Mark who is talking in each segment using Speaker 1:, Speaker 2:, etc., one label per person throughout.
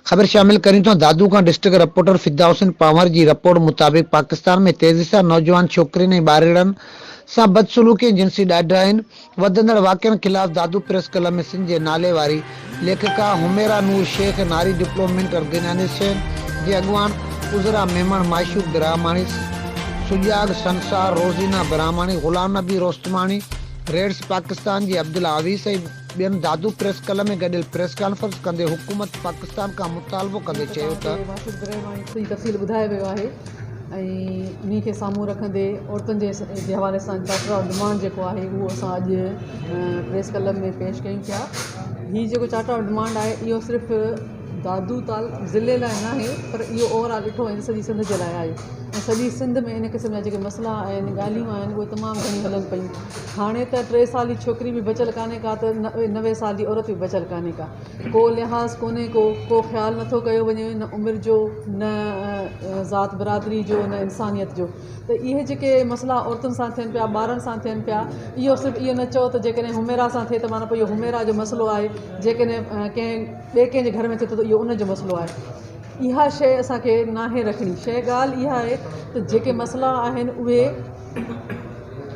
Speaker 1: خبر شامل ڪريون ٿا دادو کان ڊسٽرڪٽ رپورٽر فدا حسين پنهور جي رپورٽ مطابق پاڪستان ۾ تيزي سان نوجوان ڇوڪرين ۽ ٻارڙن سان بدسلوڪي ۽ جنسي ڏاڍاين وڌندڙ واقعن خلاف دادو پريس ڪلب ۾ سنڌ جي ناليواري ليکڪا حميرا نور شيخ ناري ڊپلومينٽ ارگنائيزيشن جي اڳواڻ عذرا ميمڻ معشوق براهماڻي سجاڳ سنسار روزينا براهماڻي غلام نبي روستماڻي ريڊس پاڪستان جي عبدالله اويس ۽ ٻين دادو پريس ڪلب ۾ گڏيل پريس ڪانفرنس ڪندي حڪومت پاڪستان کان مطالبو ڪندي چيو ته.
Speaker 2: ۽ انهي کي سامهون رکندي عورتن جي حوالي سان چارٽر آف ڊمانڊ جيڪو آهي اهو اسان اڄ پريس ڪلب ۾ پيش ڪيون پيا هي جيڪو چارٽر آف ڊمانڊ آهي اهو صرف دادو تال ضلعي لاء نه آهي پر اهو اوور آل ڏٺو وڃي سڄي سنڌ جي لاء آهي ۽ سڄي سنڌ ۾ ان قسم جا جيڪي مسئلا آهن ڳالهيون آهن اهي تمام گهڻيون هلن پيون هاڻي ته ٽي سالي ڇوڪري به بچيل ڪانهي ڪا ته نوي سال جي عورت به بچيل ڪانهي ڪا ڪو لحاظ ڪونهي ڪو ڪو خيال نٿو ڪيو وڃي نه عمر جو نه ذات برادري جو نه انسانيت جو ته اهي جيڪي مسئلا عورتن سان ٿين پيا ٻارن سان ٿين پيا اهو صرف اهو نه چئو ته جيڪڏهن حميرا سان ٿئي ته معنيٰ اهو حميرا جو مسئلو آهي جيڪڏهن ڪنهن ٻئي ڪنهن جي گهر ۾ ٿئي ٿو ته اهو ان جو مسئلو آهي اها شيء اسان کي ناهي رکڻي شيء ڳالهه اها آهي ته جيڪي مسئلا آهن اهي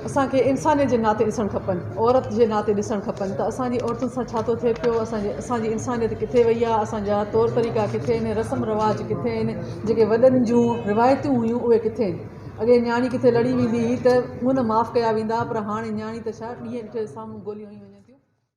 Speaker 2: اسان کي انسانيت جي ناتي ڏسڻ کپن عورت جي ناتي ڏسڻ کپن ته اسانجي عورتن سان ڇا ٿو ٿئي پيو اسانجي اسانجي انسانيت ڪٿي وئي آهي اسانجا طور طريقا ڪٿي آهن رسم رواج ڪٿي آهن جيڪي وڏن جون روايتون هيون اهي ڪٿي آهن اڳي نياڻي ڪٿي لڙي ويندي هئي ته منهن نه معاف ڪيا ويندا پر هاڻي نياڻي ته ڇا ڏينهن ڏٺي سامهون گوليون هنيون وڃن ٿيون